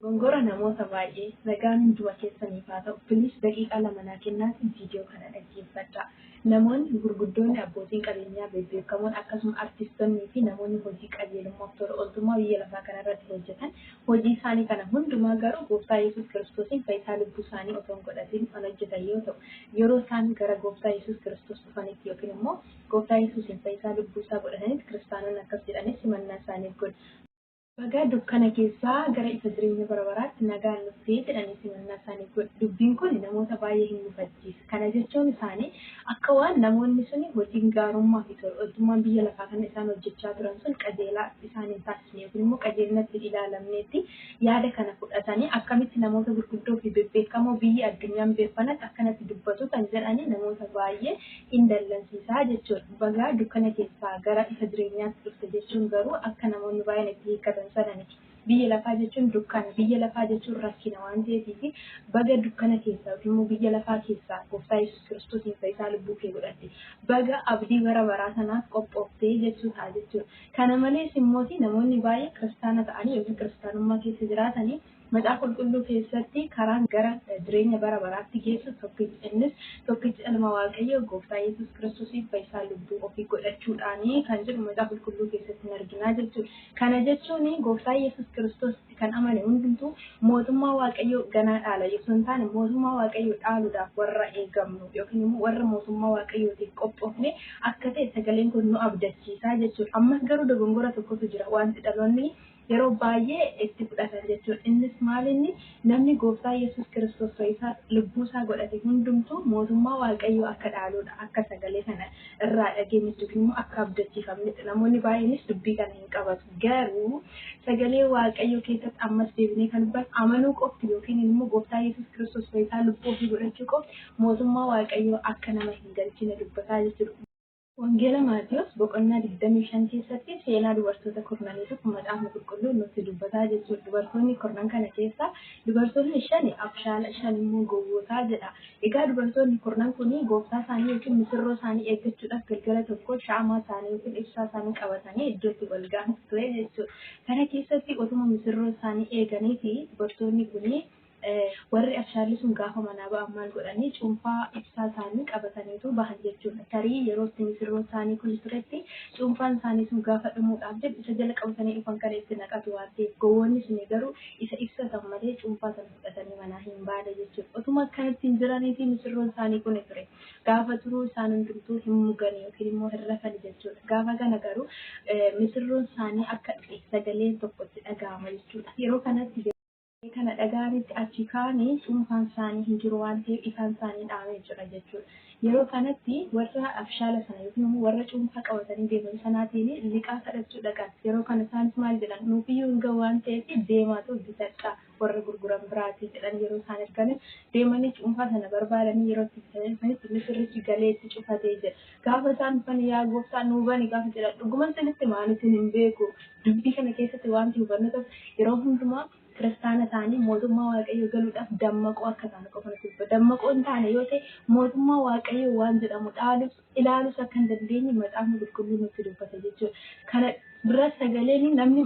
Gongora namoota baay'ee. Nagaan hunduma keessaniif haa ta'u please daqiiqaa lama naa kennaatii video kana dhaggeeffadhaa. Namoonni gurguddoonni abbootiin qabeenyaa bebbeekamoon akkasuma artiistonnii fi namoonni hojii qajeelummaaf tola ooltummaa biyya lafaa kana irratti hojjetan hojii isaanii kana hundumaa garuu gooftaa yesuus kiristoosiin fayyisaa lubbuu isaanii otoo hin godhatiin kan hojjetan yoo ta'u yeroo isaan gara gooftaa yesuus kiristoos dhufanitti yookiin immoo gooftaa yesuusiin fayyisaa lubbuu isaa godhatanitti kiristaanonni akkas jedhanii simannaa isaaniif godhu. Baga dukkana keessaa gara ifa jireenya bara baraatti nagaan dhufte jedhanii simannaa isaaniif godhu. Dubbiin kun namoota baay'ee hin mufachiisa. Kana jechuun isaanii akka waan namoonni suni hojiin gaarummaa fi tola ooltummaan biyya lafaa kana isaan hojjechaa turan sun qajeelaa isaan hin taasisne yookiin immoo qajeelinatti hin ilaalamneetti yaada kana fudhatanii akkamitti namoota gurguddoo fi bebbeekamoo biyyi addunyaan beekfanatti akkanatti dubbatu kan jedhanii namoota baay'ee in dallansiisa jechuudha. Baga dukkana keessaa gara ifa jireenyaatti dhufte jechuun garuu akka namoonni baay'een itti hiikkatan sana miti. Biyya lafaa jechuun dukkana, biyya lafaa jechuun rakkina waan ta'eefiif baga dukkana keessaa yookiin immoo biyya lafaa keessaa Gooftaa Yesuus Kiristoosiin fayyisaa lubbuu kee godhatte. Baga abdii bara baraa sanaaf qophooftee jechuu ta'a jechuudha. Kana malees immooti namoonni baay'een kiristaana ta'anii yookiin kiristaanummaa keessa jiraatanii Macaafa Qulqulluu keessatti karaan gara jireenya bara baraatti geessu tokkichi, innis tokkicha Ilma Waaqayyoo, Gooftaa Yesuus Kiristoosiif fayisaa lubbuu ofii godhachuudhaani kan jedhu Macaafa Qulqulluu keessatti hin arginaa jechuudha. Kana jechuun Gooftaa Yesuus Kiristoositti kan amane hundumtuu mootummaa Waaqayyoo ganaa dhaala osoo hin taane mootummaa Waaqayyoo dhaaluudhaaf warra eegamnu yookiin immoo warra mootummaa Waaqayyootiif qophoofne akka ta'e sagaleen kun nu abdachiisaa jechuudha. Ammas garuu dogongora tokkotu jira. Wanti dhaloonni yeroo baay'ee itti fudhatan jechuudha. Innis maal inni? Namni Gooftaa Yesuus Kiristoos Fayyisaa lubbuu isaa godhate hundumtuu mootummaa Waaqayyoo akka dhaaluudha. Akka sagalee kana irraa dhageenyutti yookiin immoo akka abdachiifamnetti. Namoonni baay'eenis dubbii kana hin qabatu. Garuu sagalee Waaqayyoo keessatti ammas deebinee kan hubannu amanuu qofti yookiin immoo Gooftaa Yesuus Kiristoos Fayyisaa lubbuu ofii godhachuu qofti mootummaa Waaqayyoo akka nama hin galchine dubbataa jechuudha. Wangeela Maatiwos boqonnaa 25 keessatti seenaa dubartoota kurnaniitu kan Macaafni Qulqulluun nutti dubbataa jechuudha. Dubartoonni kurnan kana keessaa dubartoonni shan abshaala, shan immoo gowwootaa jedha. Egaa dubartoonni kurnan kun gooftaa isaanii yookiin misirroo isaanii eeggachuudhaaf galgala tokko shaamaa isaanii yookiin ibsaa isaanii qabatanii iddootti wal ga'antu ture jechuudha. Kana keessatti otuma misirroo isaanii eeganiiti dubartoonni kun Warri abshaalli sun gaafa manaa ba'an maal godhani? Cuunfaa ibsaa isaanii qabataniitu bahan jechuun dha. Tarii yeroo itti misirroon isaanii kuni turetti cuunfaan isaanii sun gaafa dhumuudhaaf jedhu isa jala qabatanii dhufan kana itti naqatu waan ta'eef. Gowwoonni suni garuu isa ibsa san malee cuunfaa sana fudhatanii manaa hin baane jechuu dha. Otuma akkanatti hin jiraniitii misirroon isaanii kuni ture. Gaafa turuu isaan hundumtuu hin mugani yookiin immoo hin rafani jechuu dha. Gaafa kana garuu misirroon isaanii akka dhufe sagaleen tokko itti dhaga'ama jechuu dha. Yeroo kanatti. Erga kana dhaga'anitti achii ka'anii cuunfaan isaanii hin jiru waan ta'eef ifaan isaanii dhaamee jira jechuudha. Yeroo kanatti warra abshaala sana yookiin immoo warra cuunfaa qabatanii deeman sanaatiin liqaa kadhachuu dhaqan. Yeroo kana isaanis maal jedhan? Nuuf iyyuu hin ga'u waan ta'eef deemaatu bitadhaa warra gurguran biraatii jedhan yeroo isaan erganis deemanii cuunfaa sana barbaadanii yeroo itti bitanii dhufanitti misirrichi galee itti cufatee jira. Gaafa isaan dhufan yaa gooftaa nuu bani gaafa jedhan dhuguman isinitti hima ani isin hin beeku. Dubbii kana keessatti waanti hubannu tokko yeroo hundumaa kiristaana taanee mootummaa waaqayyoo galuudhaaf dammaqoo akka taanu qofa nutti dubba. Dammaqoo hin taane yoo ta'e mootummaa waaqayyoo waan jedhamu dhaalus ilaalus akka hin dandeenye macaafni qulqulluu nutti dubbata jechuudha. Kana dura sagaleen namni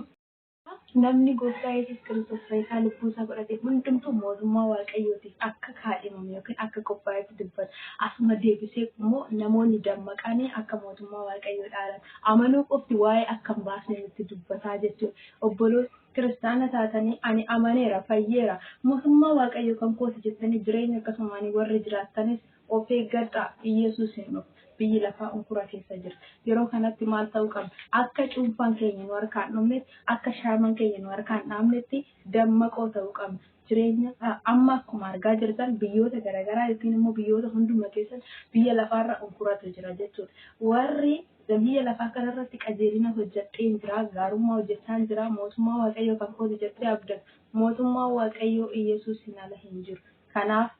Namni Gooftaa Yesuus Kiristoos Fayyisaa lubbuu isaa godhate hundumtuu mootummaa Waaqayyootiif akka kaadhimame yookiin akka qophaa'etti dubbata. Asuma deebisee immoo namoonni dammaqanii akka mootummaa Waaqayyoo dhaalan amanuu qofti waa'ee akka hin baasne nutti dubbataa jechuudha. Obboloota kiristaana taatanii ani amaneera, fayyeera, mootummaa Waaqayyoo kan kooti jettanii jireenya akkasumaanii warri jiraattanis Of eeggadhaa! Iyyesuus in dhufa. Biyyi lafaa unkura keessa jira. Yeroo kanatti maal ta'uu qabna? Akka cuunfaan keenya nu harkaa hin dhumnetti, akka shaamaan keenya nu harkaa hin dhaamnetti dammaqoo ta'uu qabna. Jireenya amma akkuma argaa jirtan biyyoota garagaraa yookiin immoo biyyoota hunduma keessatti biyya lafaarra unkuratu jira jechuudha. Warri biyya lafaa kanarratti qajeelina hojjedheen jira, gaarummaa hojjechaan jira, mootummaa Waaqayyoo kan kooti jedhee abdatu. Mootummaan Waaqayyoo Iyyesuusiin ala hin jiru. Kanaaf